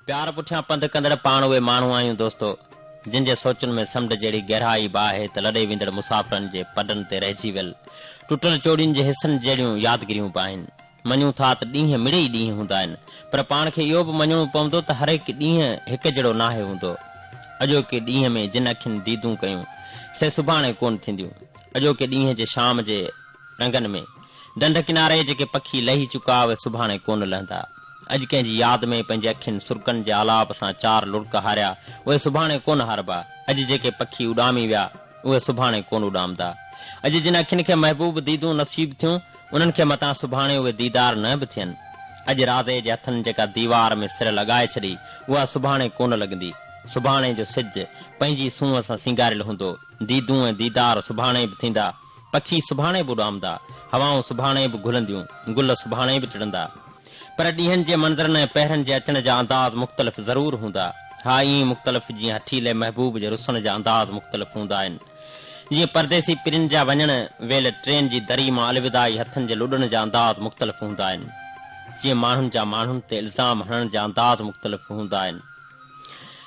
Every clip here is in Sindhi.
پيار پٺيان پنڌ ڪندڙ پاڻ اهي ماڻهو آهيون دوستو جن جي سوچن ۾ سمنڊ جهڙي گهرائي به آهي ته لڏي ويندڙ مسافرن جي پڊن تي رهجي ويل ٽٽل چوڙين جي حصن جهڙيون يادگريون به آهن مڃون ٿا ته ڏينهن مڙئي ئي ڏينهن هوندا آهن پر پاڻ کي اهو به مڃڻو پوندو ته هر هڪ ڏينهن هڪ جهڙو ناهي هوندو اڄوڪي ڏينهن ۾ جن اکين ديدون ڪيون سي سڀاڻي ڪون ٿينديون اڄوڪي ڏينهن جي شام جي رنگن ۾، ڍنڍ ڪناري جيڪي پکي لهي چڪا اهي سڀاڻي ڪونه لهندا. اڄ ڪنهن جي ياد ۾ پنهنجي اکين سرڪن جي آلاپ سان چار لڙڪ هاريا اهي سڀاڻي ڪونه هاربا. اڄ جيڪي پکي اڏامي ويا اهي سڀاڻي ڪونه اڏامدا. اڄ جن اکين کي محبوب ديدون نصيب ٿيون انهن کي متان سڀاڻي اهي ديدار نه به ٿين. اڄ رازي جي هٿن جيڪا ديوار ۾ سر لڳائي ڇڏي اها سڀاڻي ڪونه لڳندي. سڀاڻي جو سج پنهنجي سونهن سان سينگاريل هوندو. ديدون ۽ ديدار سڀاڻي به ٿيندا. پکي سڀاڻي به اڏامندا، هوائون سڀاڻي به گهلنديون، گل سڀاڻي به ٽڙندا. پر ڏينهن جي منظرن ۽ پهرن جي اچڻ جا انداز مختلف ضرور هوندا. ها ائين مختلف جيئن هٺيلي محبوب جي رسڻ جا انداز مختلف هوندا آهن. جيئن پرديسي پرين جا وڃڻ ويل ٽرين جي دري مان الوداعي هٿن جي لڏڻ جا انداز مختلف هوندا آهن. جيئن ماڻهن جا ماڻهن تي الزام هڻڻ جا انداز مختلف هوندا آهن.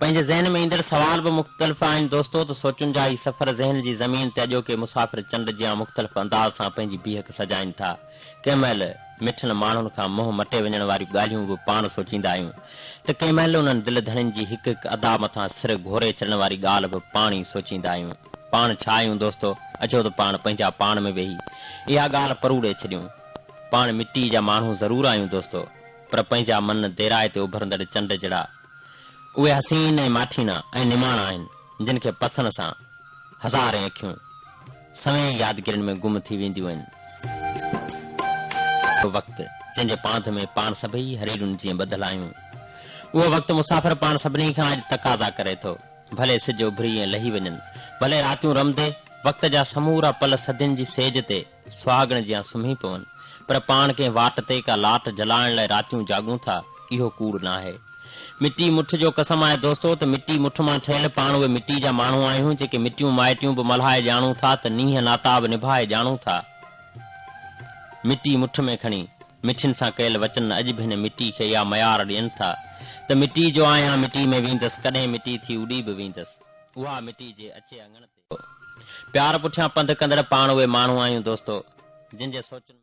پنهنجي ذهن ۾ ايندڙ سوال به مختلف آهن دوستو ته سوچن جا هي سفر ذهن جي زمين تي اڄوڪي مسافر چنڊ جيان مختلف انداز سان پنهنجي بيهڪ سجائين ٿا ڪنهن مهل مٺن ماڻهن کان منهن مٽي وڃڻ واريون ڳالهيون به پاڻ سوچيندا آهيون ته ڪنهن مهل انهن دل ڌڻين جي هڪ هڪ ادا مٿان سر گهوري ڇڏڻ واري ڳالهه به پاڻ ئي سوچيندا آهيون پاڻ ڇا آهيون دوستو اچو ته پاڻ پنهنجا پاڻ ۾ ويهي اها ڳالهه پروڙي ڇڏيون پاڻ مٽي جا ماڻهو ضرور آهيون دوستو پر پنهنجا من ديرائي تي اڀرندڙ چنڊ جهڙا اهي حسين ۽ ماٺينا ۽ نماڻا آهن، جن کي پسڻ سان هزارين اکيون سوين يادگيرين ۾ گم ٿي وينديون آهن. اهو وقت، جنهن جي پانڌ ۾ پاڻ سڀئي هريرن جيئن ٻڌل آهيون، اهو وقت مسافر پاڻ سڀني کان اڄ تقاضا ڪري ٿو. ڀلي سج اڀري ۽ لهي وڃن، ڀلي راتيون رمندي، وقت جا سمورا پل صدين جي سيج تي، سهاڳڻ جيان سمهي پون، پر پاڻ ڪنهن واٽ تي ڪا لاٽ جلائڻ لاء راتيون جاڳون ٿا، اهو ڪوڙ ناهي. مٽي مٺ جو قسم آهي دوستو ته مٽي مٺ مان ٺهيل پاڻ اهي مٽي جا ماڻهو آهيون جيڪي مٽيون مائٽيون به ملهائي ڄاڻون ٿا ته نينهن ناتا به نڀائي ڄاڻون ٿا مٽي مٺ ۾ کڻي مٺين سان ڪيل وچن اڄ به هن مٽي کي اها ميار ڏين ٿا ته مٽي جو آهيان مٽي ۾ ويندس ڪڏهن مٽي ٿي اڏي به ويندس اها مٽي جي اچي اڱڻ تي پيار پٺيان پنڌ ڪندڙ پاڻ اهي ماڻهو آهيون دوستو جن جي سوچن ۾.